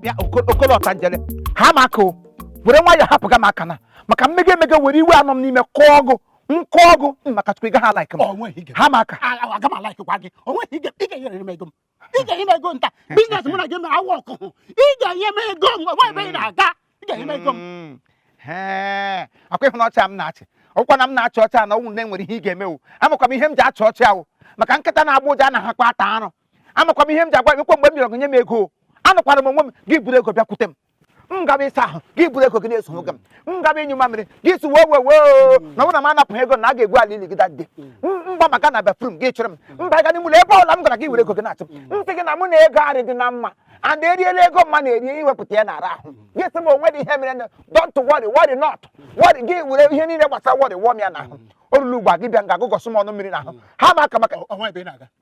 bịa okolo ọtanjele ha m aka o were nwayọọ hapụga m aka na maka m mega emega were iwe a nọ m n'ime kụọ ọgụ nkụ ọgụ maka chukwu ị ga ha alaik m ha m aka aga m alaikwa gị o nweghị ike ị ga-enyere m ego m ị ga-enye m ego nta biznes mụ na gị awa ọkụkụ ị ga-enye m ego m nwa ebe ị na-aga ị ga-enye m ego m hmm. ọkwa ị hụ na ọchị m na-achị ọkwa na m na-achị ọcha na ọnwụ na enwere ihe ị ga-emewu amakwa m ihe m ji achị ọchị ahụ maka nkịta na-agbọ ụja anahakwa ata arụ amakwa m ihe m ji agwa gị kwa mgbe m bịara gị nye m ego anọkwara m onwe m gị buru ego bịakwute m m gaba ịsa ahụ gị buru ego gị na-eso nwoke m m gaba ịnyụ mamịrị gị si wee wee wee na ọ bụrụ na m anapụghị ego na a ga-egwu ala ili gị dadị m gbabaga na bafrum gị chọrọ m m baga n'ime ụlọ ebe ọla m gara gị were ego gị na-achụ m sị gị na mụ na ego adịghị na mma and eriela ego mma na-eri iwepụta ya na-ara ahụ gị sị m o nwedị ihe mere na don't worry worry not worry gị were ihe niile gbasara worry wụọ m ya n'ahụ o ruru ugbu a gị bịa nga gị gbụsa m ọnụ mmiri n'ahụ ha m aka maka Ọ- ọ nwa ebe ị na-aga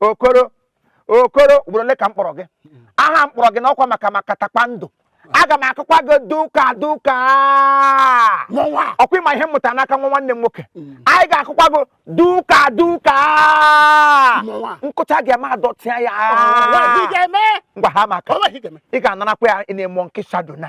okoro okoro ugboro ole ka m kpọrọ gị aha m kpọrọ gị n'ọkwa maka maka takpa ndụ aga m akụkwa gị duka duka ọkwa ị ma ihe m mụta n'aka nwa nwanne m nwoke mm. anyị ga-akụkwa gị duka duka m kụcha gị ama adọtịa ya ngwa ha m aka ị ga-anarakwa ya na-emụọ nkịsa dona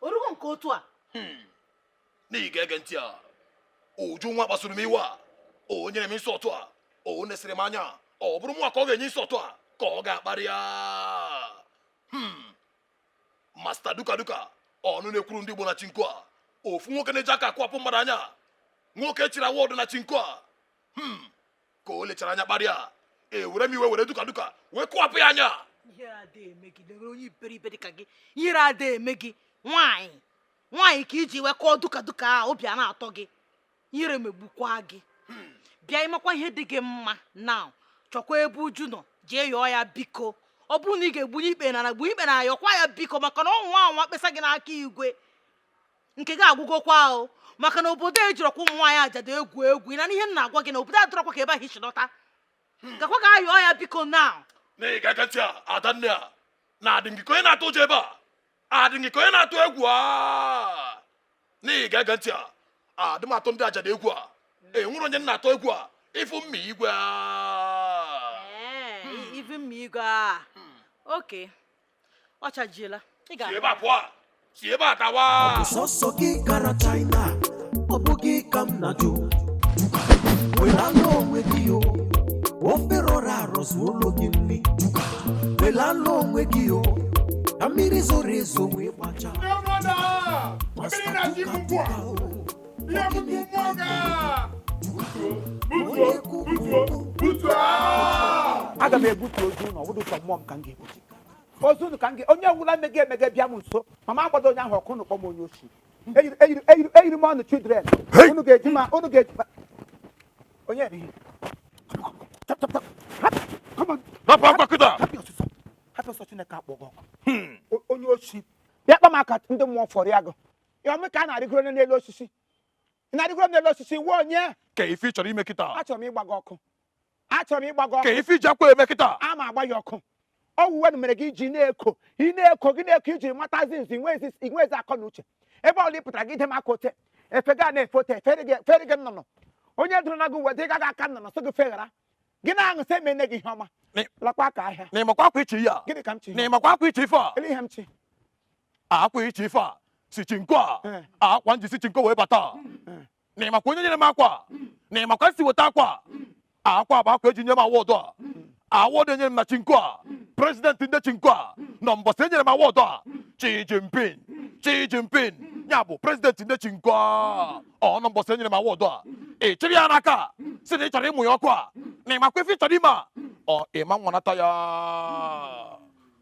o rugo nke otu a hmm. na ị ga-ege ntị a uju nwa kpasuru m iwe a o nyere m insult a o nesịrị m anya ọ bụrọ m nwa ka ọ ga-enye insult a ka ọ ga-akparị ya hmm. masta duka duka ọnụ na-ekwuru ndị Igbo na chinko a ofu nwoke na-eji aka akụwapụ mmadụ anya nwoke chiri award na chinko a hmm. ka o lechara anya kparịa ewere m iwe were duka duka wee kụwapụ ya anya ihere ada eme gị lere onye iberibe dị ka gị ihere ada eme gị nwaanyị nwaanyị ka i ji wee kụọ duka duka a obi a na-atọ gị ihere megbukwa gị hmm. bịa ịmakwa ihe dị gị mma now chọkwa ebe uju nọ jee yọọ ya biko ọ bụrụ na ị ga-egbunye ikpere n'ana gbu ikpere n'ana yọkwa ya biko maka na ọ nwa anwa kpesa gị n'aka igwe nke gị agwụgokwa ahụ maka na obodo a ejirọkwa ụmụ nwaanyị ajadu egwu egwu na ihe m na-agwa gị na obodo a adịrọkwa ka ebe ahụ i si lọta hmm. gakwa ga yọọ ya biko now na ị ga-ege ntị a adanne a na-adị gị ka onye na-atụ ụjọ ebe a adị gị ka onye na-atụ egwu a na ị ga-ege ntị a adị m atụ ndị ajadu egwu a enwere onye na-atụ egwu a ị fụ mma igwe a hmm. ife mma igwe a hmm. oke ọ chajiela si ebe a pụọ si ebe a tawa sọsọ gị gara china ọ bụghị ka m na-ajụ welala onwe gị o ofe rọrọ arọ zuolo gị nri welala onwe gị o ka mmiri zoro ezo wee gbacha mmiri na-achị ibu mkpụ a ihe mkpụ mkpụ ga butuo butuo butuo aga m ebutu ozu na ọ bụdụ sọ mmụọ m ka m ga-ebutu ozunu ka nge onye wụla mege mege bịa m nso m ma agbado onye ahụ ọkụ n'ụkpọ m onye oshi eyiri m ọnụ children unu ga-eji ma unu ga-eji onye eri rapụ akwa kịta hapụ ọsọ chineke akpọgọ hmm. onye oshi bịa kpa m aka ndị mmụọ fọrọ ya gụ ya ọmị ka a na-arịgoro n'elu osisi Ị na-arịgoro n'elu osisi wuo onye? Ka ife ị chọrọ ime kịta? Achọrọ m ịgba gị ọkụ. Achọrọ m ịgba gị ọkụ. Ka ife i ji akwa eme kịta? A ma agba ya ọkụ. Ọ wụ uwe na mere gị i ji na-eko, ị na-eko gị na-eko i ji matazi nzi i nwezi akọ na uche. Ebe ọụla ị pụtara gị ide m aka ote, efe gị a na-efe ote, fere gị nnụnụ. Onye dụrụ na gị uwe dị ka aka nnụnụ sị gị feghara. gị na-aṅụ sị emene gị ihe ọma Ni- lakwa aka ahịa na ị makwa akwa ị chị a gịnị ka m chị na ị makwa akwa ị chị ife a olee ihe m chị akwa ị chị ife a si chinko a Eh. akwa m ji si chinko wee bata na ị makwa onye nyere m akwa na ị makwa m si weta akwa akwa bụ akwa e ji nye m awọdụ a awọdụ e nyere m na chinko a prezidenti ndị chinko a nọ mbọsị e nyere m awọdụ a Xi Jinping Xi Jinping ya bụ prezidenti ndị chinko a ọ nọ mbọsị e nyere m awọdụ a ị chịrị ya n'aka sị na ị chọrọ ịmụ ya ọkụ a na ị makwa ife ị chọrọ ime a ọ ị ma nwanata ya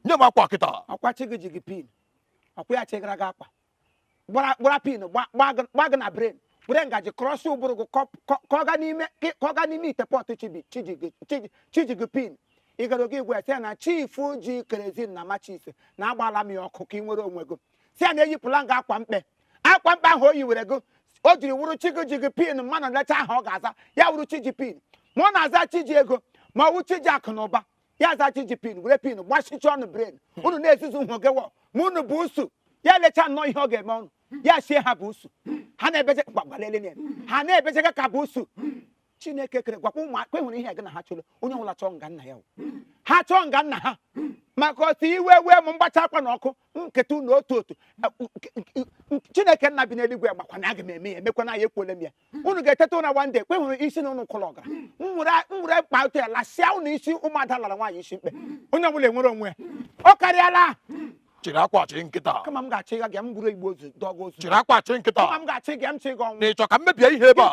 nye m akwa kịta ọ kwa chi gị ji gị pin ọ kwa ya chịgara gị akwa gbara gbara pin gba- gba gị- gba gị na bren were ngaji krọsị ụbụrụ gị kọ- kọ- ka ọ gaa n'ime ka ọ gaa n'ime ite pọtụ chibi- chiji gị- chiji- chiji gị pin ị gara oge igwe sị ya na chifu ji kerezin na machis na agbaala m ya ọkụ ka ị nwere onwe gị sị ya na eyipụla m gị akwa mkpe akwa mkpe ahụ o yiwere gị o jiri wụrụ chi gị ji gị pin mmanụ lecha aha ọ ga-aza ya wụrụ chi ji pin ma ọ na-aza chi ji ego ma ọ wụ chi ji akụ na ụba ya aza chi ji pin were pin gbachicha unu bren unu na-ezuzu nhụ gị wọ ma unu bụ ụsụ ya lecha nnọọ ihe ọ ga-eme unu ya sị ha bụ ụsụ ha na-ebeje gbagbalele na ha na-ebeje gị ka bụ ụsụ chineke kere gwakwa ụmụaka e nwere ihe gị na ha chụrụ onye ọbụla chọọ nga nna ya ha chọọ nga nna ha maka otu iwe wee m m gbachaa akwa na ọkụ kịta na otu otu chineke nna bi n'eluigwe gbakwa na aga m eme ya emekwana ya ekwuole m ya unu ga-eteta ụra nwa ndị ekpe hụrụ isi na unu kụrụ ọgara m were mkpa ụtọ ya lasịa unu isi ụmụada lara nwaanyị isi mkpe onye ọbụla enwere onwe ya ọ karịala chịrị akwa chịrị nkịta kama m ga-achị gị m buru igbe ozu dọgụ ozu chịrị akwa chịrị nkịta kama m ga-achị gị m chị gị ọnwụ na ị chọ ka m mebie ihe ebe a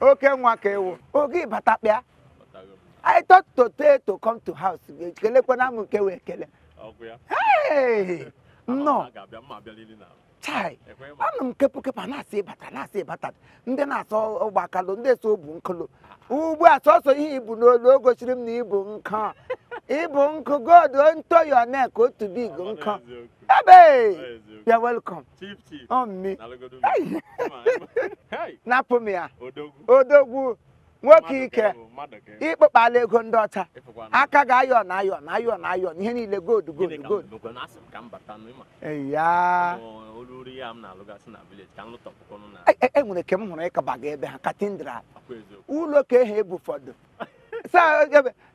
oke nwa ka ị wụ oge ị bata kpịa I thought to tell to come to house kelekwana m nke wee kele Hey! nnọọ chai anụ m kepu kepu a na-asị ị bata na-asị ị bata ndị na-asọ ụgbọ akalụ ndị so bụ nkụlụ ugbu a sọsọ ihe i bu n'olu o gosiri m na i bu nkụ i bu nkụ gold onto your neck otu big nkụ Ebe! You're welcome. Chief, chief. Oh, me. Napụ m ya. Odogwu. Nwoke ike. Ịkpụkpala ego ndị ọcha. Aka ga ayọ na ayọ na ayọ na ayọ ihe niile gold gold gold. Ya. Enwere e, e, e, ke m hụrụ ị kabaga ebe ha cathedral. Ụlọ ka ehe ebu ụfọdụ.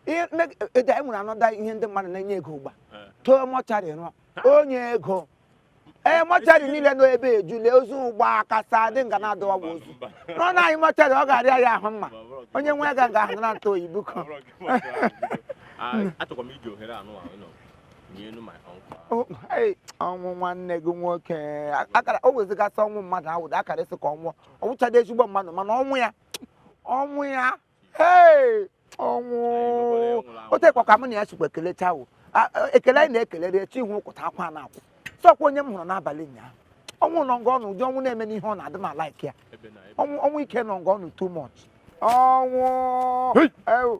e nwere another ihe ndị mmadụ na-enye ego ụgba eh. too mortuary rụọ onye ego ee eh, mortuary niile nọ ebe ejule ozu ụgba kasa dị nga na-adọwa ozu nọ na anyị mortuary ọ ga-arịa ya ahụ mma onye nwe ga ga ahụ na ntụ oyi biko ọnwụ nwanne gị nwoke o wezigasị ọnwụ mmadụ awụda akara esi ka ọnwụ ọ wụchadị ezigbo mmadụ mana ọnwụ ya ọnwụ ya ee ọnwụ o tekwa ka mụ na ya sikwa ekelecha wo A- a- ekele anyị na-ekelere echi ihu ụkwụta akwa na-akwụ sọkwa onye m hụrụ n'abalị ụnyaahụ ọnwụ nọ nga ọnụ ụdị ọnwụ na-eme n'ihe ọ na-adị m a-like ya ọnwụ ọnwụ ike nọ nga ọnụ too much ọnwụ Hey! ewu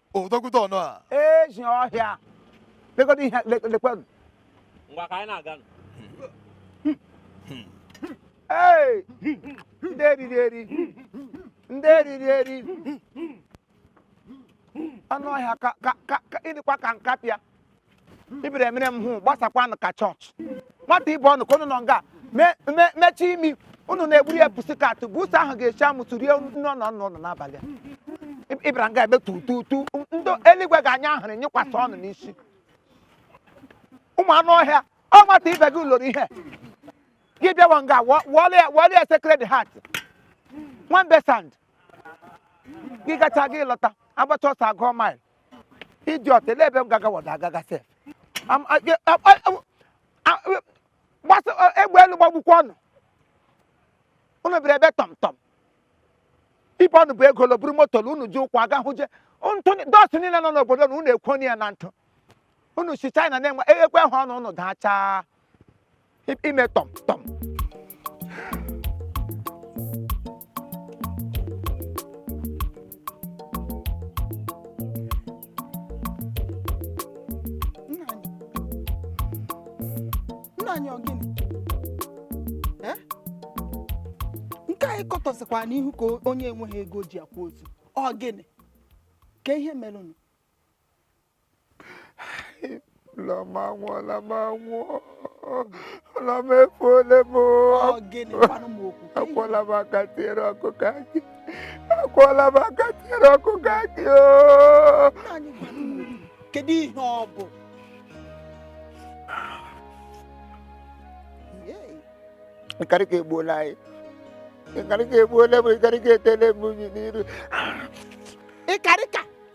odogwuta ọnụ a ezi ọhịa legodo ihe le- lekwanụ ngwa ka anyị na-aga nụ. Hey! ndị eriri eri ndị eriri eri anụ ọhịa ka ka ka ka ị dịkwa ka nkapịa ibere mere m hụ gbasakwanụ ka church nwata ibe unu ka unu nọ nga me- me- mechie imi unu na-egburu ya pussycat bụ ụsọ ahụ ga-echi amụ tụrie nne ọ nọ nọ nọ n'abalị a. Ib- ị bịara nga ebe tu tu tu ndị eluigwe ga-anyụ ahụrụ nyụkwasị unu n'isi ụmụ anụ ọhịa ọ nwata ibe gị lọrọ ihe gị bịawa nga wọ- wọọlụ ya wọọlụ ya Sacred Heart nwambe sand gị gacha gị lọta agbacha ọsọ agụọ mile idiot ele ebe m gagawada agaga sef Am- a- ge- a- a- a- a- a- gbasa a- egbe elu gbagbukwa unu unu bịara ebe tọm tọm ibe unu bu ego lọ buru moto lọ unu ji ụkwụ aga hụ je ntụ ni- dust niile nọ n'obodo na unu ekwoni ya na ntụ unu si China na-enwe ekwe ha ọnụ unu dachaa ime tọm tọm nna anyị ọ gịnị Eh? nke anyị kọtọsịkwanụ ihu ka onye enweghị ego ji akwa ozu ọ gịnị ka ihe mere unu ụlọ m anwụọla m anwụọ ụlọ m efuole m akwụọla m aka tiere ọkụkọ akị akwụọla m aka tiere ọkụkọ akị kedu ihe ọ bụ ịkarịka egbuola anyị ịkarịka egbuola m ịkarịka etele m unyi n'iru ịkarịka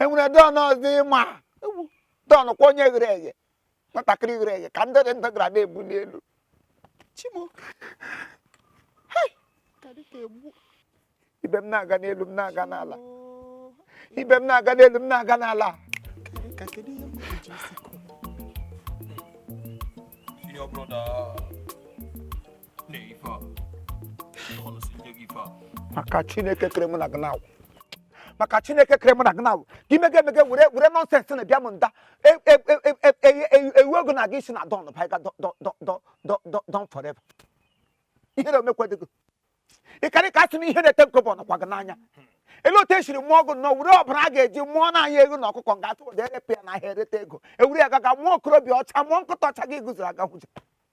enwere don ọzọ ịma don kwa onye ghere eghe nwatakịrị ghere eghe ka ndị dị ndụ gara na-ebuli elu chimo ibe m na-aga n'elu m na-aga n'ala ibe m na-aga n'elu m na-aga n'ala maka chineke kere mụ na gị na-awụ maka chineke kere mụ na gị na-awụ ka imega emega were were nonsense na-abịa m nda ewu ego na gị isi na don baiga don forever ihe na omekwadego ịkarịka asị na ihe na-ete nkobọ nọkwa gị n'anya elu otu esiri mụọ ọgụ nọ were ọbara a ga-eji mụọ na anya ego na ọkụkọ nga atụ ụda erepụ ya n'ahịa ereta ego ewere ya gaga mụọ okorobịa ọcha mụọ nkụta ọcha gị gụziri aga hụja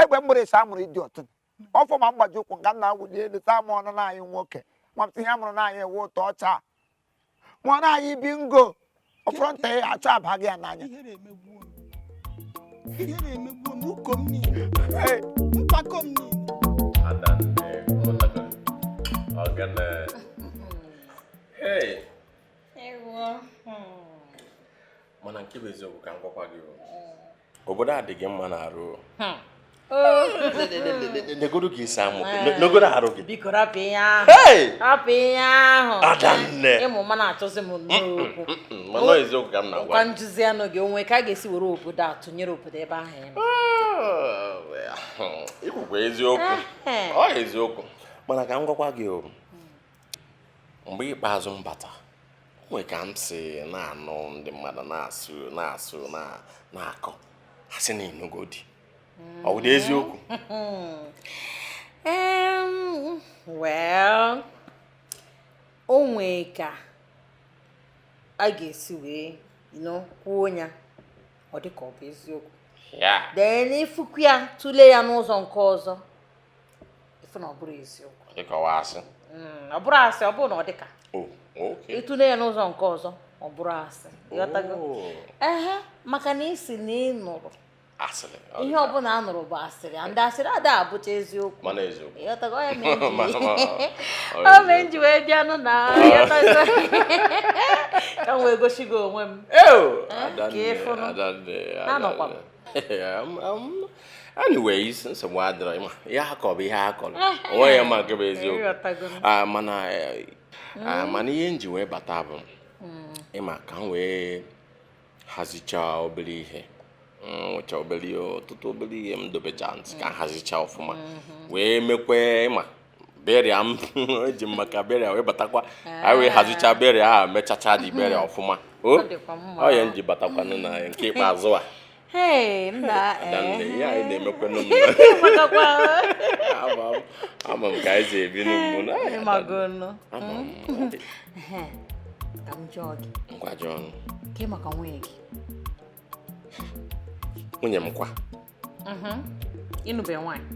egbe mgbere ịsa amụrụ ịdị ọtụ ọfọ ma mgbaji ụkwụ nga nna wụli elu taa ma ọnụ nna anyị nwoke nwapụta ihe amụrụ nna anyị ewu ụtọ ọcha ma ọ nna anyị bingo ọ fọrọ nta ya achọ abaghị ya n'anya ihere emegbuo m ihere emegbuo m uko m niile Hey, mpako m niile Adanne, ọ natara. Ọ gana. Hey, Ewo. Hmm. mana nke bụ eziokwu ka m gwakwa gị o. obodo a dị gị mma n'arụ hmm. negodo gị isi amụ eh. negodo arụ gị biko rapụ ihe ahụ rapụ ihe ahụ adanne ịmụ ma na-achọzi m n'okwu mana eziokwu ka m na-agwa ka m jụzianụ gị o nwe ka a ga-esi were obodo a tụnyere obodo ebe ahụ ị nọ ikwukwa ah, eziokwu eh. ọ eziokwu mana ka m gwakwa gị o mgbe ikpeazụ m bata o nwe ka m si na-anụ ndị mmadụ na-asụ na-asụ na na-akọ ha sị na ị nụgo di ọ bụ eziokwu Em, well, o nwee ka a ga-esi wee you know, kwuo ya ọ dị ka ọ bụ eziokwu ya then ị fụkwu ya tụlee ya n'ụzọ nke ọzọ ị fụ na ọ bụrụ eziokwu ịkọwa asị mm, ọ bụrụ asị ọ bụrụ na ọ dịka oh, ịtụle ya n'ụzọ nke ọzọ ọ bụrụ asị ịghọtago oh. ehe maka na ị sị na ị nụrụ ihe ọbụla a nụrụ bụ asịrị ndị asịrị ada abụcha eziokwu o mee m ji wee bịanụ na ka m wee gosi gị onwe m ka ị fụnụ anọkwa m Um, um, anyways nsogbu adịrọ ịma ihe ha kọrọ bụ ihe ha kọrọ onwe ya ma nke bụ eziokwu Ịghọtago m. Ah, mana eh, ah, mana ihe m ji wee bata bụ ịma ka m wee hazichaa obere ihe Mm, nwechaa obere ihe, ọtụtụ obere ihe m dobecha ntị ka m hazichaa ọfụma wee mekwe ịma burial m eji m maka burial wee batakwa anyị wee hazichaa burial ahụ mechacha the burial ọfụma o ọ ya m ji batakwanụ na nke ikpeazụ a Hey, nna adanne ihe anyị na-emekwanụ m ama m ama m ka anyị si ebi n'ugbu na ị magonụ ama m ka m jụọ gị ngwa jụọnụ ke maka nwunye gị nwunye m kwa ịnụbe nwaanyị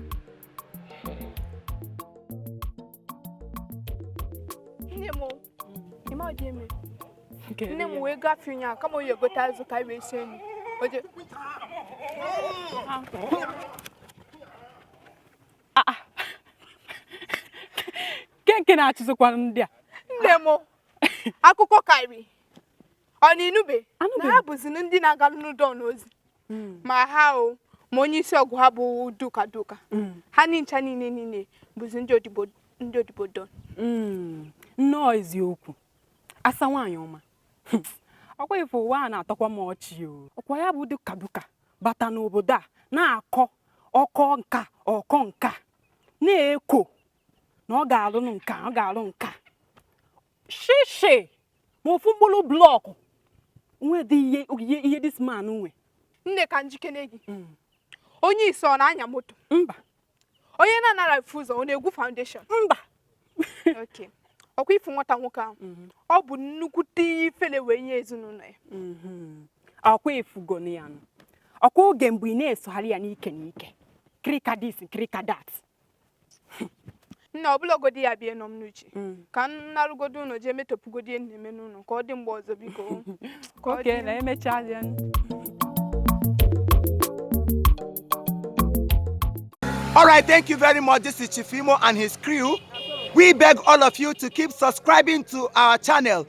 nne m ịma ọ dị eme nne m wee gafee ya ka m jee gote azụ ka wee sie nri oje nke nke na-achịzikwa ndị a nne m akụkọ karị ọ na ị nụbe na ha bụzi ndị na-agaranụ Don ozi mm. ma ha o ma onye isi ọgwụ ha bụ Duka Duka mm. ha ncha niile niile bụzi ndị odibo ndị odibo Don mm. nnọọ eziokwu asa nwaanyị ọma ọkwa ife ụwa a na-atọkwa m ọchị o ọkwa ya bụ Duka Duka bata n'obodo a na-akọ ọkọ nka ọkọ nka na-eko na ọ ga-arụ nka ọ ga-arụ nka shishi ma ofu mkpụrụ block o nwedị ihe ihe ihe this man nwe nne ka m jụkene gị onye isi ọ na-anya moto mba onye na-anara efu ụzọ ọ na-egwu foundation mba okay ọkwa ị fụ nwata nwoke ahụ ọ bụ nnukwute ifele wee nye ezinụlọ ya ọkwa ị fụgo ya nụ ọkwa oge mgbe ị na-esogharị ya n'ike n'ike kirika this kirika that nna ọ bụrọgodi ya bụ ihe nọ m n'uche mm. ka m narụgodi ụlọ jee metọpụgodi ihe na-eme n'ụlọ ka ọ dị mgbe ọzọ biko ka ọ dị na emechaa ya All right, thank you very much. This is Chief Imo and his crew. We beg all of you to keep subscribing to our channel.